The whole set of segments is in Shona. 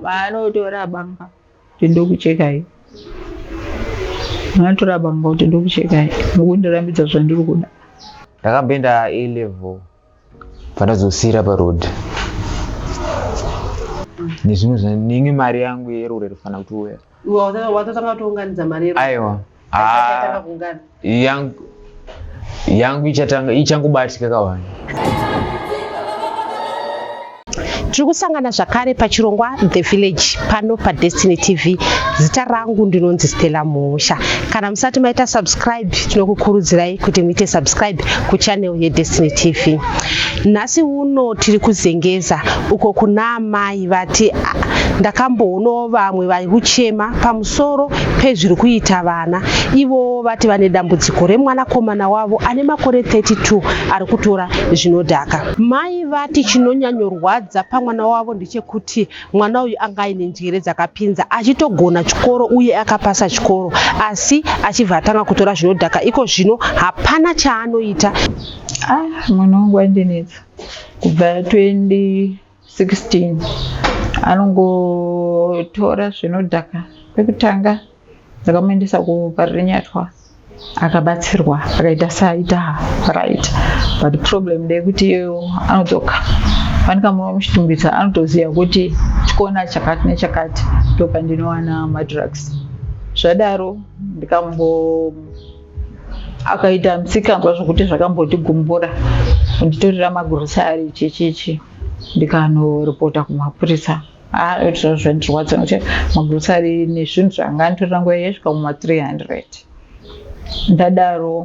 vanotora banga kuti ndokuchekai vanotora banga kuti ndokuchekai mukundirambidza zvandiri kuda ndakamboenda a level pandazosiira paroad nezvimwe zvainge mari yangu yerure rifanira kuti uya watatanga kutounganidza mari yedu aiwa ah, yangu yangu ichatanga ichangobatika kawani tiri kusangana zvakare pachirongwa the village pano padestiny tv zita rangu ndinonzi stella musha kana musati maita subscribe tinokukurudzirai kuti muite subscribe kuchannel yedestiny tv nhasi uno tiri kuzengeza uko kuna amai iyi vati ndakamboonawo vamwe vari kuchema pamusoro pezviri kuita vana. Ivowo vati vane dambudziko remwanakomana wavo ane makore 32 ari kutora zvinodhaka. Mai vati chinonyanyorwadza pamwana wavo ndechekuti mwana uyu anga aine njere dzakapinza achitogona chikoro uye akapasa chikoro asi achibva atanga kutora zvinodhaka iko zvino hapana chaanoita. Ah, mwana wangu andinetsa kubva 20 16 anongotora zvinodhaka pekutanga dzakamuendesa kuparirinyatwa akabatsirwa akaita saita right but problem ndeyekuti iyoyo anodzoka fanika muno muchitumbisa anotoziva kuti chikona chakati nechakati ndopandinowana madrugs zvadaro ndikambo akaita misikanzwa zvekuti zvakambotigumvura kunditorera magurosari chichichi ndikanoripota kumapurisa aitira ah, zvandirwadza nokuti magurosari nezvinhu zvanga anditorera nguva yaisvika muma 300 ndadaro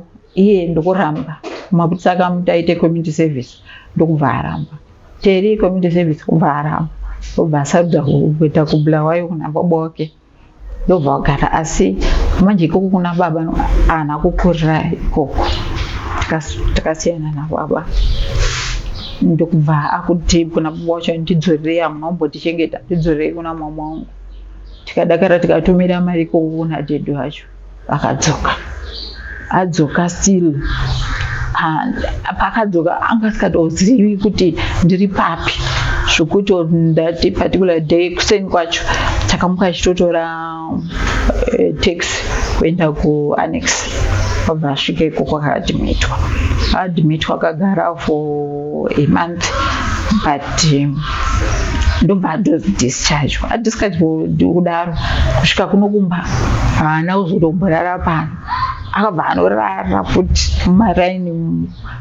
iye ndokuramba mapurisa akamuti aite community service ndokubva aramba teri community service kubva aramba obva asarudza kuita kubulawayo kunababa wake ndobva vagara asi manje ikoko kuna baba haana kukurira ikoko takasiyana nababa ndokubva akuti kuna baba wacho ndidzorerei hamuna kumbotichengeta ndidzorerei kuna mama wangu tikadakara tikatumira mari ikoko kuna dhedhi wacho akadzoka adzoka still pakadzoka anga asikatozivi kuti ndiri papi zvekuti that particular day kuseni kwacho takamuka achitotora eh, tax kuenda kuannex wabva asvika ikoko akaadmitwa admitwa akagara for a month but um, ndobva adozodischarge adischarge kudaro kusvika kuno kumba haana kuzotomborara pano akabva anorara futi mumaraini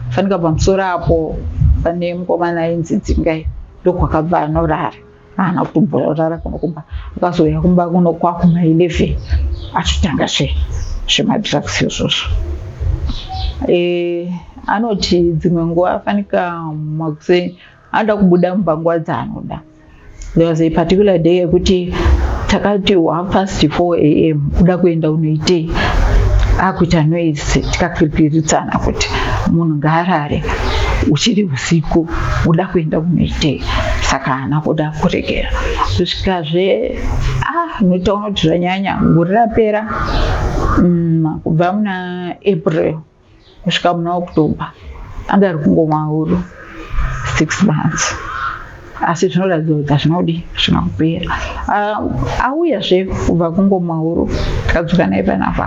fanika pamusoro apo pane mukomana ainzi dzingai ndokwakabva anorara haana kutomborara kuno kumba akazouya kumba kuno kwakuma 11 achitanga zve zvemadrugs izvozvo eh, anoti dzimwe nguva afanika makuse anoda kubuda mumba nguva dzaanoda there was a particular day yekuti takati half past 4 am kuda kuenda unoitei akuita noise tikakirikiritsana kuti munhu ngaarare uchiri Tsiko uda kuenda kunoitei saka haana kuda kuregera kusvikazve ah unotaona kuti zvanyanya gore rapera mm, kubva muna april kusvika muna october anga ari kungomwa huru six months asi zvinoratidza kuti hazvinodi zvina kupera ah, auya zve kubva kungomauro tikadzoka naye panapa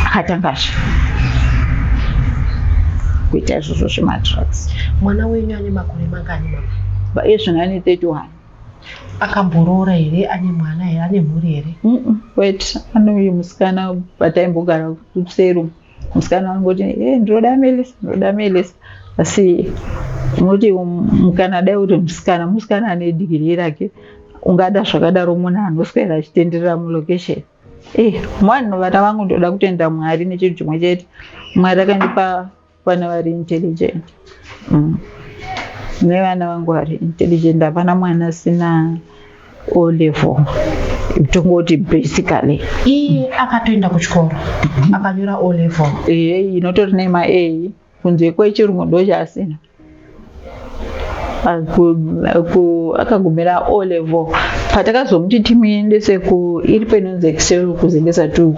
akatangazve kuita izvozvo zvemadrugs mwana wenyu ane makore mangani mama ezvino ane 31 akamboroora here ane mwana here ane mhuri here wet anoyi musikana pataimbogara kusero musikana anongoti e eh, ndinoda melisa ndinoda melisa asi unoti um, mukana dai kuti musikana musikana ane dhigiri rake ungada zvakadaro munhu anoswera achitenderera mulocation e eh, mwanhu vana vangu ndoda kutenda mwari nechinhu chimwe chete mwari akandipa vana vari intelligent mm. nevana vangu vari intelligent hapana mwana asina o level tongoti basically iye akatoenda kuchikoro akanyora o level ehe inotori nema a kunze kwechirungu ndochaasina akagumira o level patakazomuti timuendese ku iri painonzi excel kuzengesa tu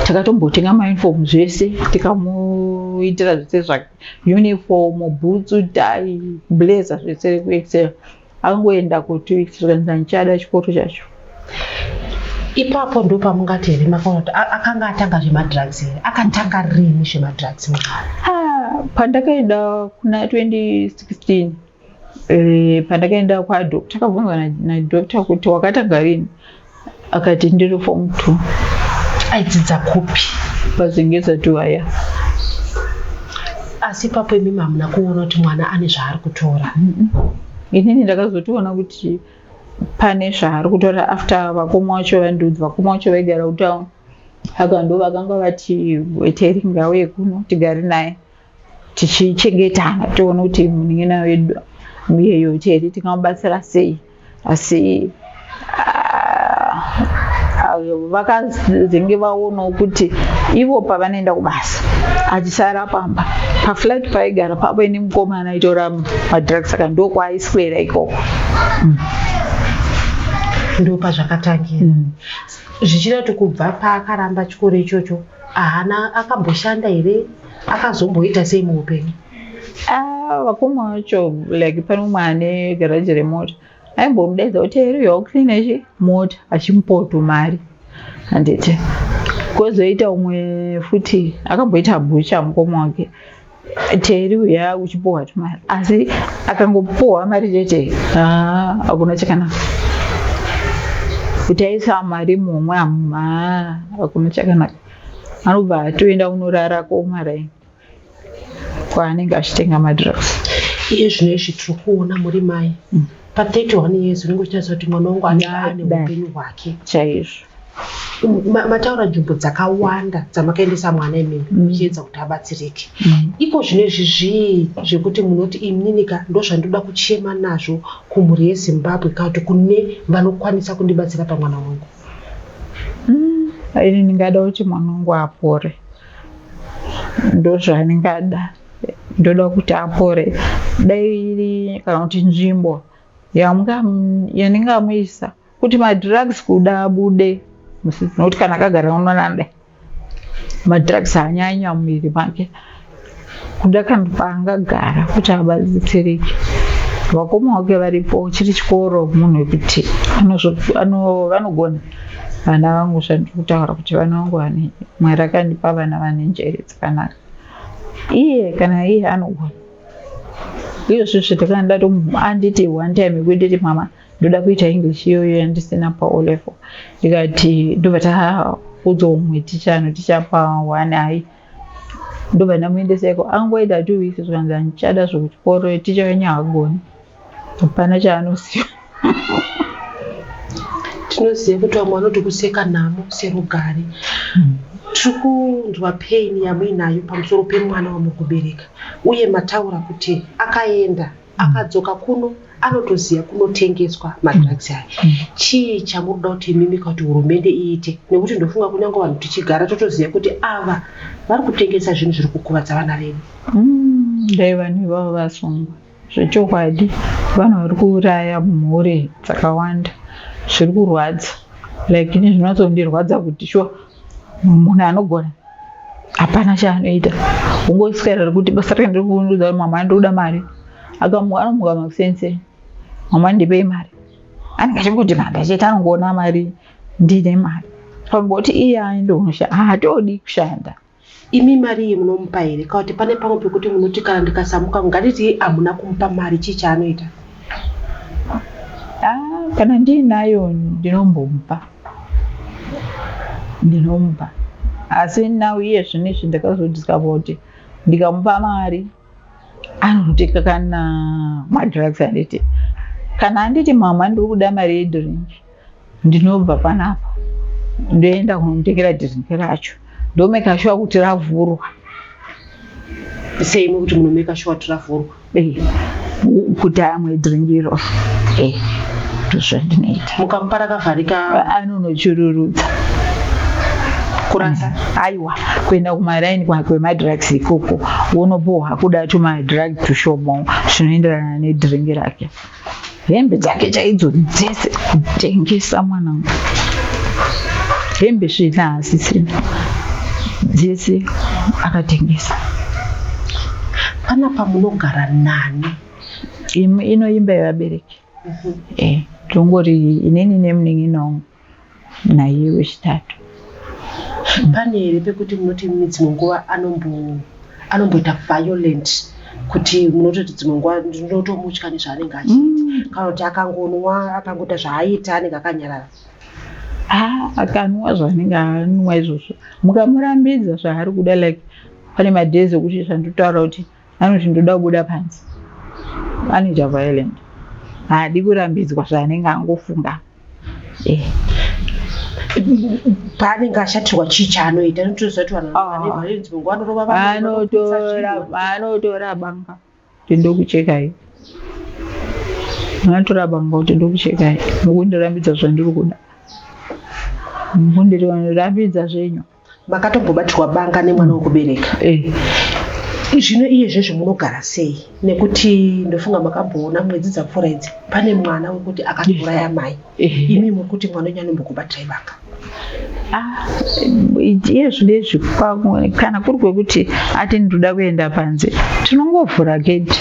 takatombotenga mauniform zvese tikamuitira zvese zvake uniform bhutsu tai blazer zvese rekuexcel angoenda ku two weeks zvikanzi handichada chikoro chacho ipapo ndo pamungati here makaona kuti akanga atanga zvemadrugs here akatanga rini zvemadrugs ah, pandakaenda kuna 2016 eh, pandakaenda kwadoctor akabvunzwa nadoctor kuti wakatanga rini akati ndiri form two aidzidza kupi pazingeza tu aya asi ipapo imi mamuna kuona kuti mwana ane zvaari kutora inini ndakazotiona kuti pane zvaari kutora after vakoma wacho vandiudzi vakoma wacho vaigara kutown haka ndo vakanga vati weteringa uye kuno tigari naye tichichengetana tione kuti munin'ina wedu muyeyo chete tingamubatsira sei asi ah, vakazenge vaonawo kuti ivo pavanoenda kubasa achisara pamba paflat paigara pavo ine mukomana aitora madrugs saka ndokwaaiswera ikoko mm ndopa zvakatangira mm. zvichireva kuti kubva paakaramba chikoro ichocho ahana akamboshanda here akazomboita sei muupenyu ah, vakoma vacho like pane umwe ane garaji remota aimbomudaidza kuti eriyo ucleana chi mota achimupoto mari handiti kwozoita umwe futi akamboita bhucha mukoma wake teri uya uchipuhwa tumari asi akangopuhwa mari chete ah, hakuna chakanaka kuti aisa mari mumwe hakuna chakanaka anobva atoenda kunorara komaraini kwaanenge achitenga madrugs iye zvino izvi tiri kuona muri mai mm. pa31 years unenge uchitaridza kuti mwana wangu anenge ane upenyu hwake chaizvo mataura nzvimbo dzakawanda dzamakaendesa mwana imimi mm. muchiedza kuti abatsirike mm. iko zvino izvi zvii zvekuti munoti imninika ndo zvandinoda kuchema nazvo kumhuri yezimbabwe kakuti kune vanokwanisa kundibatsira pamwana wangu Mm, ini ndingada kuti mwana wangu apore, ndozvandingada. Ndoda kuti apore, dai iri kana kuti nzvimbo yandingamuisa kuti madrugs kuda abude, nokuti kana akagara unoona dai madrugs haanyanya mumuviri make kuda kana paangagara kuti abatsirike vakoma wake varipo chiri chikoro munhu wekuti vanogona vana vangu zvandiri kutaura kuti vana vangu vane mwari akandipa vana vane njere dzakanaka iye kana iye anogona izvozvo zvitakandati anditi one time yekuititi mama ndoda kuita english iyoyo yandisina paolevel ndikati ndobva taudza umwe ticha anoticha paone hai ndobva ndamuendeseko angoita two weeks zvikanzi handichada zvekuchikoro ticha wenyu hagoni hapana chaanosiya tinoziva kuti vamwe vanoti kuseka nhamo serugare hmm. tiri kunzwa pain yamuinayo pamusoro pemwana wamukubereka uye mataura kuti akaenda akadzoka kuno anotoziva kunotengeswa madrugs aya mm. chii chamunoda kuti imimi kuti hurumende iite nekuti ndofunga kunyange vanhu tichigara totoziva kuti ava vari kutengesa zvinhu zviri kukuvadza vana vedu mm, dai vanhu ivavo vasungwa zvechokwadi vanhu vari kuuraya mhuri dzakawanda zviri kurwadza like ini zvinotsondirwadza kuti shuwa munhu anogona hapana chaanoita ungoiswera rekuti basa rake ndirikuunudza kuti mama ndikuda mari anomuka makusense mama ndipei mari anenge achingoti manda chete anongoona mari ndine mari pamboti iye aende unoshanda haatodi kushanda imi mari iyi munomupa here ka kuti pane pamwe pekuti munoti kana ndikasamuka nganditi hamuna kumupa mari chii chaanoita ah, kana ndiinayo ndinombomupa ndinomupa asi now iye zvino izvi ndakazodiscover kuti ndikamupa mari anoteka kana madrugs anditi kana anditi mama ndiri kuda mari yedrink ndinobva panapa ndoenda kunotengera drink racho ndomeka shuwa kuti ravhurwa seimwe kuti munomeka shuwa kuti ravhurwa eh, kuti amwe drink iro eh, ndozvandinoita mukamupa rakavharika anonochururudza kurasa aiwa kuenda kumaraini kwemadrugs ikoko wonopuhwa kuda tumadrug tushomo zvinoenderana nedringi rake hembe dzake chaidzo dzese kutengesa mwanangu hembe svina hasisina dzese akatengesa panapa munogara nani ino imba yevabereki mhm. eh, tongori inini nemunin'ina wangu naiye wechitatu pane here pekuti munoti dzimwe nguva anomboita violent kuti munototi dzimwe nguva ndinotomutya nezvaanenge achiita mm. kana kuti akangonwa akangoita zvaaita anenge akanyarara ah, akanwa zvaanenge anwa izvozvo mukamurambidza zvaari kuda like pane madays okuti zvandotaura kuti anoti ndoda kubuda panze anoita violent haadi kurambidzwa zvaanenge angofunga eh. paanenge ashatirwa chii chaanoita anotoziva kuti vanhu ah. vane violence munguva anorova vanotora banga kuti ndokuchekai anotora banga kuti ndokuchekai mukundirambidza zvandiri kuda mukundirambidza zvenyu makatombobatirwa banga nemwana wekubereka eh. zvino iye zvezvo munogara sei nekuti ndofunga makamboona mwedzi dzapfuura idzi pane mwana wekuti akatouraya mai eh. imi muri kuti mwana wenyu anombokubatai banga Ah, iye zvinezvi kana kuri kwekuti ati ndinoda kuenda panze tinongovhura gedhi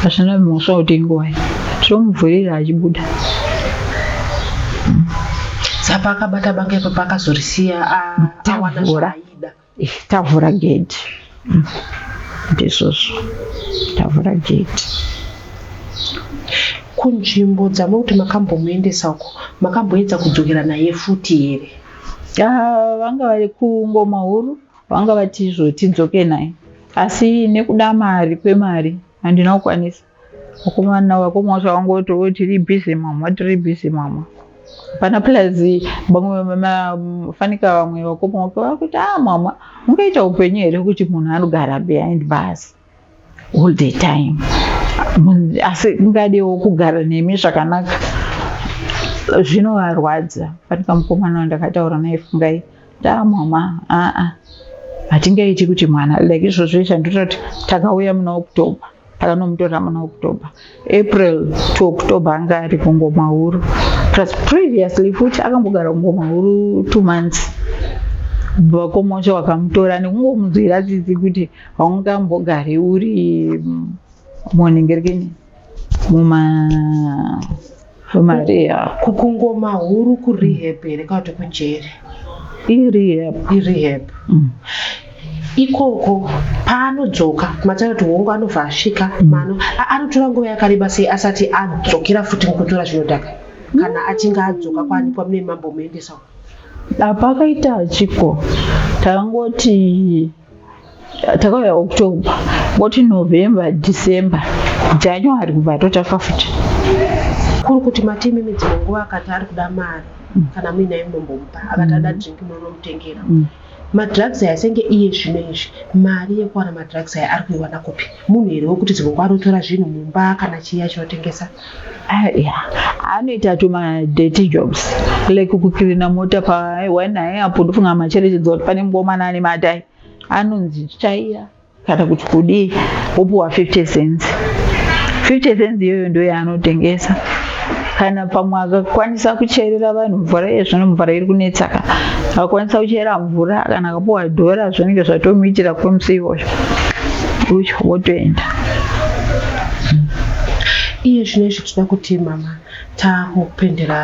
pasina mhosva kuti ingowai tinomuvhurira achibuda saka akabata banga ipapo akazorisiya a- awana Tavhura. zvaaida Eh, tavhura gedhi ndizvozvo tavhura gedhi kunzvimbo dzamuri kuti makambomuendesa uko makamboedza kudzokera naye futi here Ah, vanga vari kungoma huru vanga vati izvo tidzoke naye asi nekuda mari kwemari handina kukwanisa Mukomana wako mwacho wangoti oh, tiri busy mama, tiri busy mama. Pana plus vamwe mafanika vamwe vakoma wako vakuti ah mama, ungaita upenyu here kuti munhu anogara behind bus all the time. Asi ungadewo kugara nemi zvakanaka. Zvinovarwadza. Fanika mukomana wandakataura naye fungai. Ndaa mama, aa. Ah, ah. Hatingaiti kuti mwana like izvozvo izvo ndototi takauya muna October. akanomutora muna october april to october anga ari kungomahuru plus previously futi akambogara kungomahuru two months vakomosha vakamutora nekungomunzwira tsitsi kuti haungambogari uri mm, monengerekeni muma Maria. Kukungoma huru ku rehab here kana kuti kujeri? I rehab. I rehab. Mm. ikoko paanodzoka matara kuti hongu anobva asvika mm. mano anotora nguva yakareba sei asati adzokera futi mukutora zvinodhaka kana mm. achinge adzoka kwanikwa mune mambo muendesa apa akaita chiko tangoti takauya october woti november december january kubva totaka futi kuri kuti mati imimi dzimwe nguva akati ari kuda mari mm. kana muinaye munombomupa akati ada mm. drink munonomutengera mm. madrugs aya senge iye zvino izvi mari yekuwana madrugs aya ari kuiwana kupi munhu here wekuti zivoko anotora zvinhu mumba kana chii achinotengesa ah, anoita tuma dirty jobs like kukirina mota pawanai apo ndofunga macherechedza kuti pane mukomana ane matai anonzi tsvaira kana kuti kudii wopuwa 50 cents 50 cents iyoyo ndoyaanotengesa kana pamwe akakwanisa kucherera vanhu mvura yezvino mvura iri kunetsa ka akakwanisa kuchera mvura kana akapuwa dhora zvinenge zvatomuitira kwemusi iwoyo ucho wotoenda iye zvino izvi tinoda kuti mama takupendera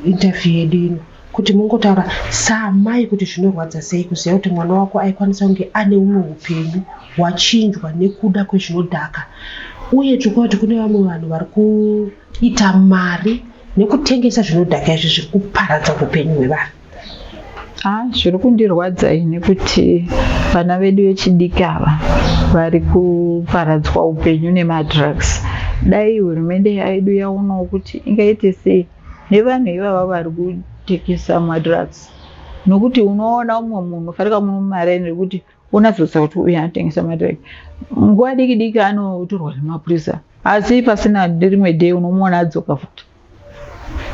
interview yedu ino kuti mungotaura saamai kuti zvinorwadza sei kuziva kuti mwana wako aikwanisa kunge ane umwe upenyu hwachinjwa nekuda kwezvinodhaka uye tiri kuva kuti kune vamwe vanhu vari kuita mari nekutengesa zvinodhaka izvi zviri kuparadza upenyu hwevanhu haa zviri kundirwadza ini kuti vana vedu vechidiki ava vari kuparadzwa upenyu nemadrugs dai hurumende yedu yaonawo kuti ingaite sei nevanhu ivava vari kutekesa madrugs nokuti unoona umwe munhu ufarika mumare nekuti unazodza kuti uyu anotengesa madrugs nguva diki diki anotorwa nemapurisa asi pasina rimwe day unomuona adzoka futi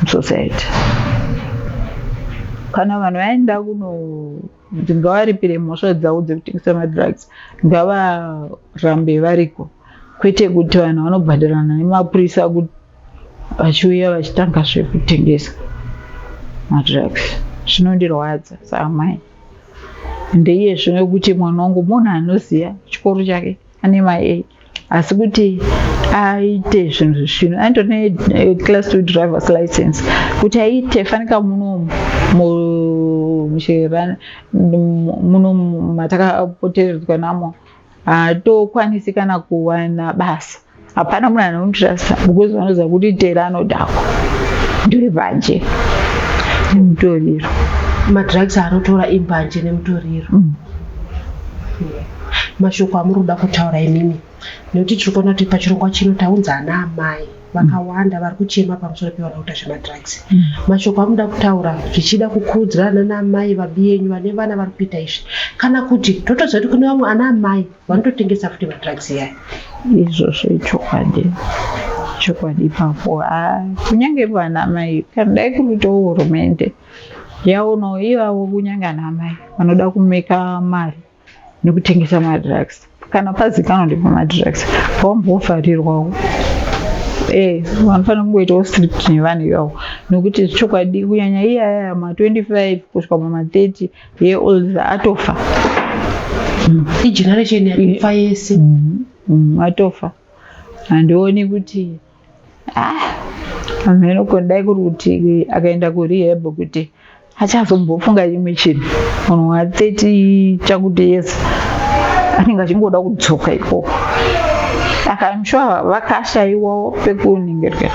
musociety kana vanhu vaenda kuno kuti ngavaripire mhosva dzavo dzekutengesa madrugs ngavarambe variko kwete kuti vanhu vanobhadharana nemapurisa kuti vachiuya vachitanga zvekutengesa madrugs zvinondirwadza saamai ndeiye zvino kuti mwana wangu munhu anoziva chikoro chake ane maei asi kuti aite zvinhu zvesvinu aindone eh, class two drivers license kuti aite fanika munomu munomu matakapoteredzwa namo hatokwanisi kana kuwana basa hapana munhu anomutrasta because vanoziva kuti tera anodhakwa ndiri banje nemutoriro madrugs anotora imbanje nemutoriro mm. mashoko amuri kuda kutaura imimi nekuti tiri kuona kuti pachirongwa chino taunza ana amai vakawanda vari kuchema pamusoro pevana kuita zvemadrugs mm. mashoko amuda kutaura zvichida kukudzirana naamai vabi yenyu vane vana vari kuita izvi kana kuti totoziva kuti kune vamwe ana amai vanototengesa futi madrugs yaya izvozvo ichokwadi chokwadi ipapo ah, kunyange vana mai kana dai kuruitawo hurumende yaonawo ivavo kunyange ana mai vanoda kumeka mari nekutengesa madrugs kana pazikanwa ndipo madrugs pawambovharirwawo eh vanofanira kungoitawo strict nevanhu ivavo nokuti chokwadi kunyanya iyaya ma 25 kusvika muma 30 year old atofa mm. igeneration yatofa yese mm, mm, atofa handioni kuti ah, amheno kundai kuri kuti akaenda kurehab kuti achazombofunga chimwe chinhu munhu wa 30 chakuti yese anenge achingoda kudzoka ikoko akamshuwa vakashaiwawo pekuningirwa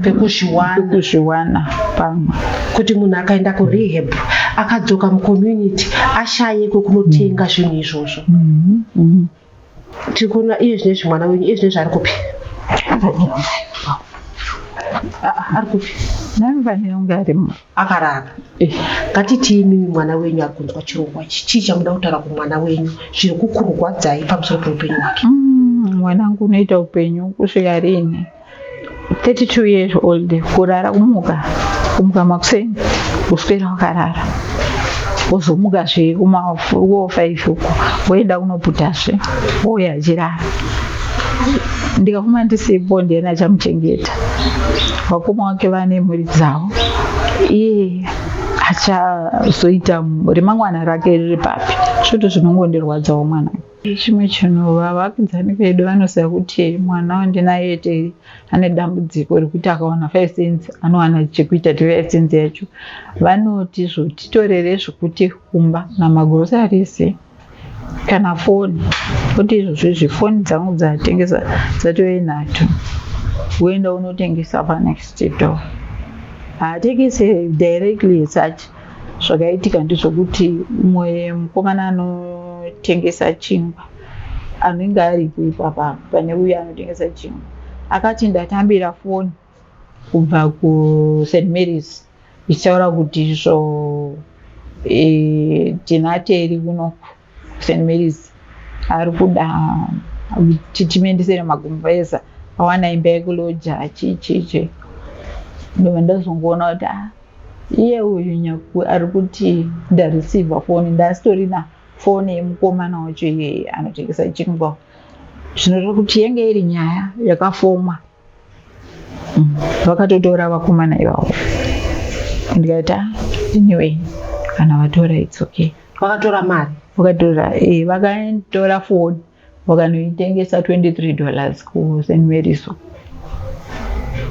pekuzviwana pamwe kuti munhu akaenda kurehab akadzoka mucommunity ashaye kwekunotenga mm. zvinhu izvozvo mm-hmm. Mm-hmm. tiri kuona iye zvine zvi mwana wenyu iye zvine zvaari kupi ari kupi naivanenge arimo akarara eh. ngatitii mimi mwana wenyu ari kunzwa chirongwa ichi chii chamuda kutaura kumwana wenyu zviri kukurwadzai pamusoro peupenyu hwake mm, mwanangu unoita upenyu kusvika riini 32 years old kurara kumuka kumuka makuseni kuswera wakarara wozomuka zve kumafuruwo five uko woenda kunoputa zve wouya achirara ndikafuma ndisipo ndiani achamuchengeta vakoma wake vane mhuri dzavo iye achazoita remangwana rake riri papi svoto zvinongondirwadzawo mwana Chimwe chinhu vavakidzani vedu vanoziva kuti mwana wandinaye tei ane dambudziko rekuti akawana five cents anowana chekuita ti five cents yacho vanoti zvotitorere zvekuti kumba na magroceries kana foni kuti izvozvo izvi foni dzangu dzatengesa dzatove nhatu woenda unotengesa panext door haatengese directly such Zvakaitika ndezvokuti mumwe mukomana anotengesa chingwa anenge aripo ipapa pane uye anotengesa chingwa akati ndatambira foni kubva kust marys ichitaura kuti izvo e, tinateri unoku St Mary's ari kuda kuti timuendesere magumbeza awana imba yekuloja chichichi ndobva ndazongoona kuti ah, iye uyu nyaku ari kuti ndareceiva foni ndasitorina foni yemukomana wacho iyeye anotengesa chingwa zvinoreva kuti yenge iri nyaya yakafomwa vakatotora vakomana ivavo ndikaita ah, anyway kana vatora its okay vakatora mari vakatora e eh, vakatora foni vakanoitengesa 23 dollars kusenweriso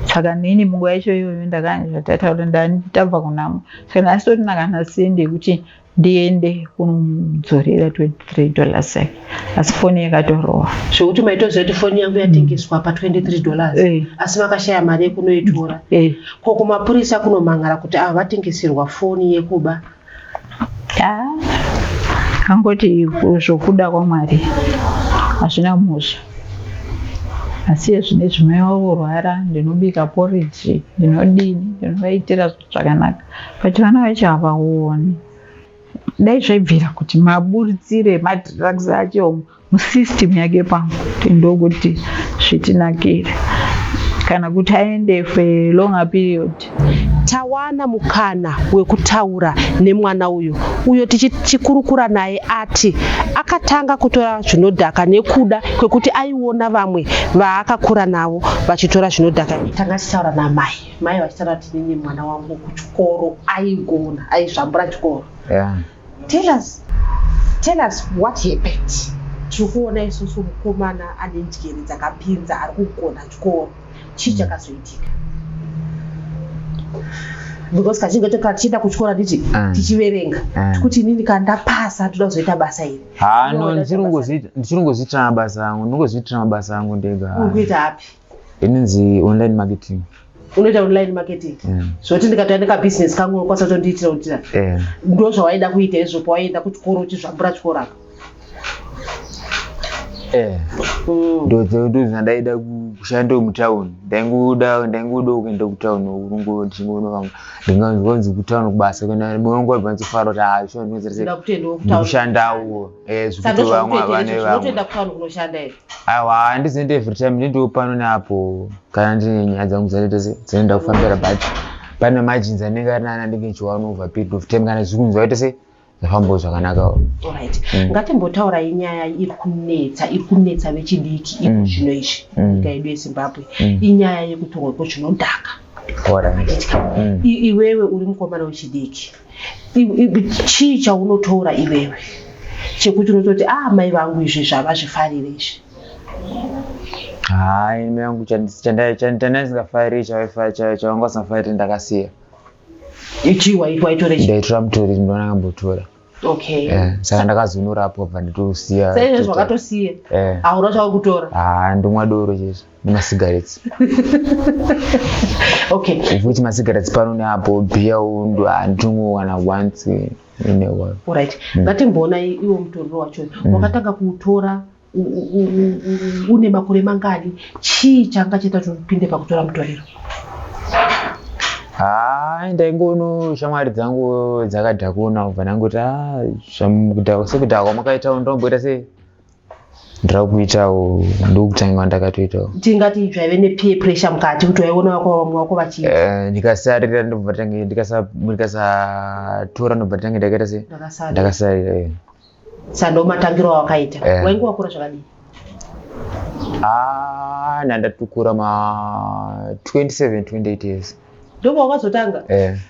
saka nini munguva yacho iyoyo ndakanga zvatataura ndani tabva kunamo saka ndasitotina kana sendi yekuti ndiende kunomudzorera 23 dollars yake asi foni yakatorova zvekuti maitoziva kuti foni yangu yatengeswa pa 23 dollars eh. asi vakashaya mari yekunoitora eh. ko kumapurisa kunomhan'ara kuti ava vatengeserwa foni yekuba angoti zvokuda kwamwari hazvina musha asi ezvinezvi mai wavo kurwara ndinobika poriji ndinodini ndinovaitira zvakanaka but vana vacho havaoni dai zvaibvira kuti maburitsire madrugs acho musystem yake pamwe kuti ndokuti zvitinakire kana kuti aende for a longer period tawana mukana wekutaura nemwana uyu uyo tichikurukura naye ati akatanga kutora zvinodhaka nekuda kwekuti aiona vamwe vaakakura navo vachitora zvinodhaka tanga tichitaura namai mai vachitaura kuti nini mwana wangu kuchikoro aigona aizvambura chikoro yeah. tell us tell us what happened tiri kuona isusu mukomana ane njere dzakapinza ari kugona chikoro chii chakazoitika because kazhinji kacho katichienda kuchikora titi ah. tichiverenga ah. tikuti inini kana ndapasa toda kuzoita basa iri hano ah, ndichiri kungozviitira mabasa angu ndingozviitira mabasa angu ndega kuita api inonzi online marketing unoita online marketing mm. zvoti ndikatouya nekabusiness kangu unokwanisa kutondiitira kuitira eh. ndo zvawaida kuita izvo pawaienda kuchikoro uchizvambura chikoro apa eh. mm. ndozvandaida kushanda mutown ndaingoda ndaingoda kuenda kutown urungo ndichingonovanga ndinganzwanzi kutown kubasa kana munongo vanzofara kuti hazvinokutendawo ah, kushandawo Eh, zvekuti vamwe havane vamweotoenda kutown kunoshanda here aiwa handizoenda every time ndindiwo pano neapo kana ndine nyaya dzangu dzinoenda kufambira but pane majinzi anenge ari nana ndenge chiwana over period of time kana zvikunzwa ite sei zvafambawo zvakanaka orit mm. ngatimbotaurai nyaya iri kunetsa iri kunetsa vechidiki iko mm. zvino izvi mm. nyika yedu yezimbabwe inyaya yekutorwa kwezvinodhaka iwewe uri mukomana wechidiki chii chaunotora iwewe chekuti unototi ah mai vangu izvi zvava zvifarire izvi haa ini mai vangu chandaisingafari chavanga usingafarire ndakasiya ichii waitore ndaitora mutori ndona kambotora okay eh, saka ndakazonora apo bva nditosiya saizvezvi wakatosiya eh. hauna chauri kutora haa ah, ndomwa doro chese nemasigaretsi okay futi masigaretsi pano neapo bhiya undu handingowana once orit mm. ngatimboona iwo mutoriro wacho mm. wakatanga kuutora une makore mangani chii changa chaita kuti upinde pakutora mutoriro haa ndaingono shamwari dzangu dzakadhakuna ubva ndangoti ah, sekudhakwa makaita ndomboita sei ndira kuitawo ndokutanga ndakatoitawo tingati zvaive nepeer pressure mukati kuti waiona vako vamwe vako vachiita eh, ndikasarira ndobva tange ndikasatora ndobva tange ndakaita se ndakasarira eh. sando matangiro awakaita eh. wainge wakura zvakadii ah, nandatukura ma 27 28 years ndobva wakazotanga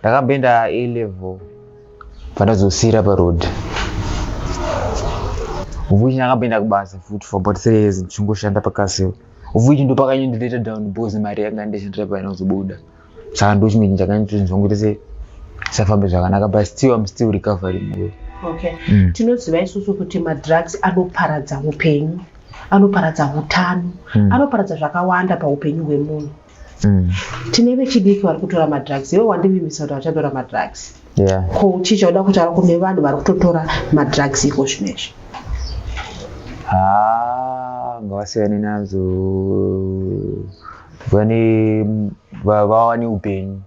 ndakamboenda a level pandazosiira paroad vuchi ndakamboenda kubasa futi for about three years ndichingoshanda pakaseo vuchi ndopakanyendileta down bos mari yanga ndishandira painozobuda saka ndochimweni chakanyatozvongotese zvisafambe zvakanaka but still im still recovering moyo okay. mm. tinoziva isusu kuti madrugs anoparadza upenyu anoparadza utano mm. anoparadza zvakawanda paupenyu hwemunhu Mm. tine vechidiki vari kutora madrugs iwe wandivimbisa kuti vachatora madrugs yeah. ko uchicha uda kutaura kune vanhu vari kutotora madrugs iko zvino izvi Ah, ngavasiyane nazo vane va- vawane upenyu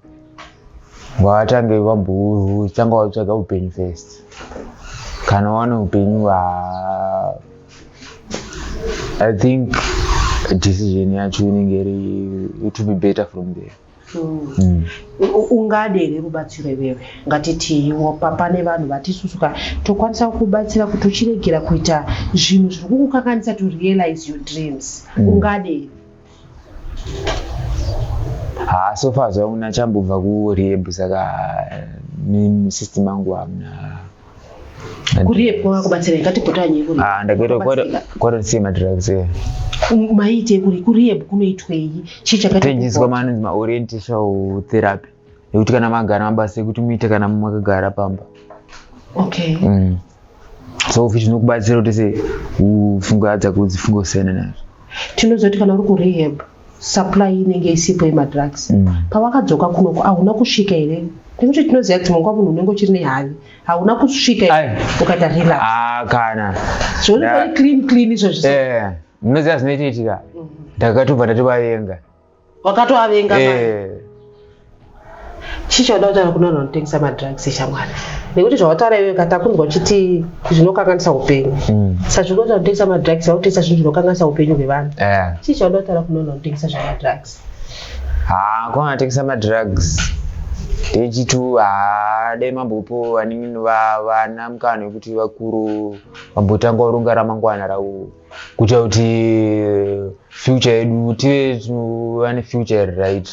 vatange vambotanga vatsvaga upenyu first kana vawane upenyu va- i think decision yacho inenge iri to be better from there Mm. ungade here rubatsiro iwewe ngatitiiwo pane vanhu vatisusuka tokwanisa kukubatsira kuti uchiregera kuita zvinhu zviri kukukanganisa to realize your dreams mm. ungade here haa so far zvaona achambobva kurehab saka system angu hamna kurehab kwakakubatsira ikatipotanyi ah, ndakaita kwata kusei madrugs e maite kuri kurehab kunoitwei chii chakatechinjiswa manonzi maorientation therapy yekuti kana magara mabasa ekuti muite kana makagara pamba okay mm. so futi zvinokubatsira kuti se ufunge adza kudzi funge usiyana nazvo tinozoti kana uri kurehab supply inenge isipo yemadrugs mm. pawakadzoka kunoko ahuna kusvika here nekuti tinoziva kuti munguva munhu unenge uchiri nehavi hauna kusvika ukaita relax ah, kana zvonaa clean clean izvozvo eh, munoziva zvinoitiitika mm-hmm. ndakatobva ndativavenga wakatoavenga manje Eh, chii chauda kutaura kune vanhu vanotengesa madrugs shamwari nekuti zvawataura iwewe kata kunzwa uchiti zvinokanganisa upenyu mm, saka zviri kuita kutengesa madrugs vakutengesa zvinhu zvinokanganisa upenyu hwevanhu eh. chii chauda kutaura kune vanhu vanotengesa zvemadrugs Ah, kwana tengesa madrugs techitu haa dai mambopo vanini va- vana mukana wekuti vakuru vambotanga kuronga ramangwana ravo kuita kuti future yedu tive tuva nefuture iri right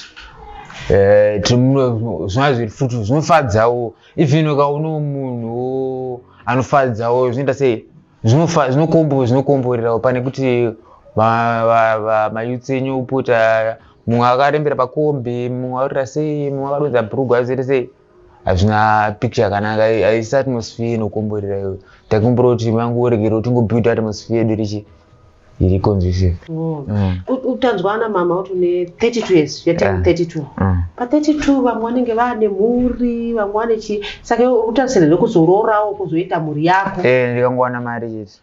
eh, zvinova zviri futi zvinofadzawo even ukaona munhu anofadzawo zvinoita sei zvinokomborerawo pane kuti mayutsi enyu upota mumwe akarembera pakombi mumwe arira sei mumwe akadonza bhurugwa azere sei hazvina picture yakanaka haisi atmosphere inokomborera iyo takumbira kuti mangu uregere utingobuilda atmosphere yedu richi iri conducive oh. mm. utanzwa ana mama kuti une 32 years yatei 32 pa 32 vamwe vanenge vane mhuri vamwe vane chi saka utarisira rekuzororawo kuzoita mhuri yako eh, ndikangowana mari chete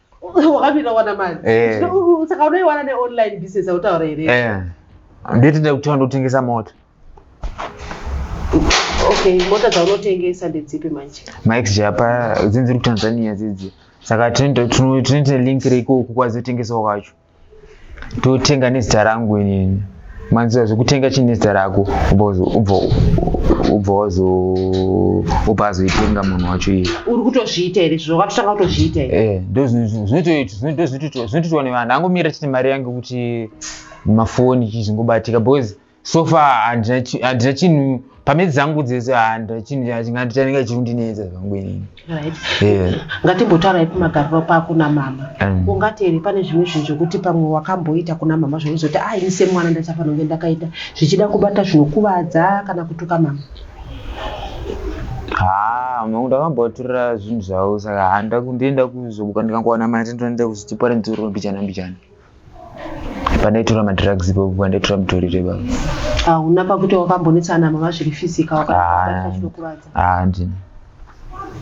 wakapinda kuwana mari eh. saka unoiwana neonline business autaura here eh. nditinde kutanga ndotengesa mota okay mota dzaunotengesa ndedzipi manje max japa dzinzi dziri kutanzania dzidzi saka tinoita link reikoku kwazotengesawo kwacho totenga nezita rangu inini manzira zvekutenga chii nezita rako ubva wazo ubva azoitenga munhu wacho iye uri kutozviita here zvo wakatotanga kutozviita here eh, ndozvinotoitwa nevanhu angomira chete mari yange kuti mafoni chii zvingobatika because so far handina chi- handina chinhu pamedzi dzangu dzese handina chinhu cha- chinga- chanenge chirundinetsa zvangu inini right Yeah. ngatimbotaurayi kumagariro pako namama Mm. ungati here pane zvimwe zvinhu zvekuti pamwe wakamboita kuna mama zvaunozoti ah ini semwana ndachafana kunge ndakaita zvichida kubata zvinokuvadza kana kutuka mama haa mangu ndakamboaturira zvinhu zvavo saka handa kundienda kuzobuka ndikangowana mari ndinoenda kuzitiparent rondichana mbichana pandaitora madrugs ipapo pandaitora mutori reba hauna pakuti wakambonetsana mama zviri physical wakaaakuvadza handina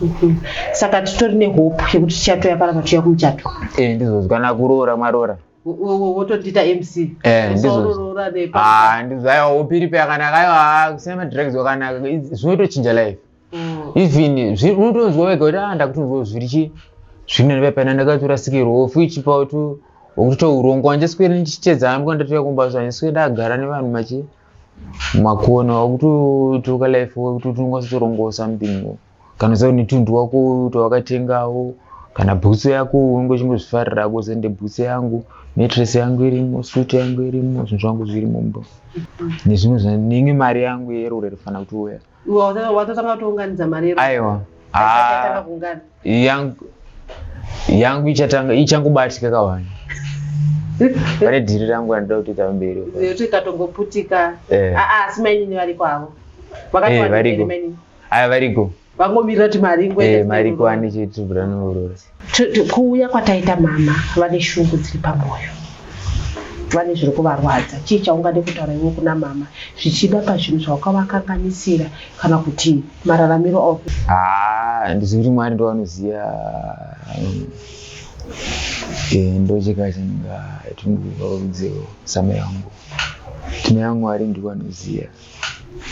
mhm. saka titori nehope yekuti tichatoya parapa tuya kumuchato e eh, ndizozwa nakuroora mwaroora wotondiita mc ndizozvaiwa hope iripo yakanaka aiwa kusina madrugs wakanaka zvinotochinja life mm. even unotonzwa wega kuti ah ndakutonzwa zviri chi zvine nepepena ndakatorasikirwa ofu ichipawo tu okuto urongo wanje sikwere ndichitedza hangu kwandatouya kumba zvanye sikwere ndagara nevanhu machi makona wakutotuka life wekuti utinokwanisa torongosa mpingo kana zao netundu wako tawakatengawo kana bhutsu yako unenge uchingozvifarira ko sende bhutsu yangu metress yangu irimo suit yangu irimo zvinhu zvangu zvirimo mbo nezvimwe zvinenge mari yangu yerure rifana kuti uya watotanga kutounganidza mari yero aiwa ah, kuungana yangu yangu ichatanga ichangobatika kawani pane dhiri rangu randida kutoita mberi kuti ikatongoputika eh. ah, ah, asi mainini variko avo vakatovariko eh, aya variko vangomirira kuti mari ingoe eh, mari kuwani chitibranoroora kuuya kwataita mama vane shungu dziri pamwoyo vane zviri kuvarwadza chii chaungade kutaura iwe kuna mama zvichida pazvinhu zvawakavakanganisira kana kuti mararamiro ao ah, handizi kuti mwari ndovanoziva um, eh, ndocheka chinonga tinovarudzeo same yangu tine yamwari ndivanoziva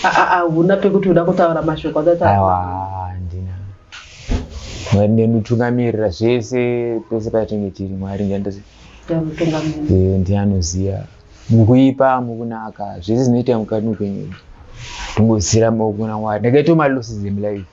hauna pekuti uda kutaura mashoko akataaiwa handina mwari ndenditungamirira zvese pese patinge tiri mwari ndiye anoziva mukuipa mukunaka zvese zvinoita mukati mupenyu tingozira maoko kuna mwari ndakaita malosses emlife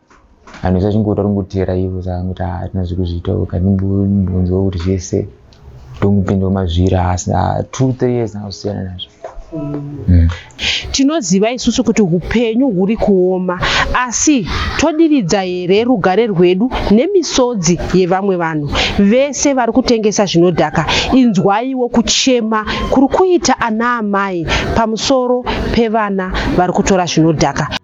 vanhu vese vachingota ringoteera ivo saangoti hatina zvekuzviita kandibunzwa kuti zvese ndongupinda mazvira asi two three years nakusiyana nazvo mm. tinoziva isusu kuti upenyu huri kuoma asi todiridza here rugare rwedu nemisodzi yevamwe vanhu vese vari kutengesa zvinodhaka inzwaiwo kuchema kuri kuita ana amai pamusoro pevana vari kutora zvinodhaka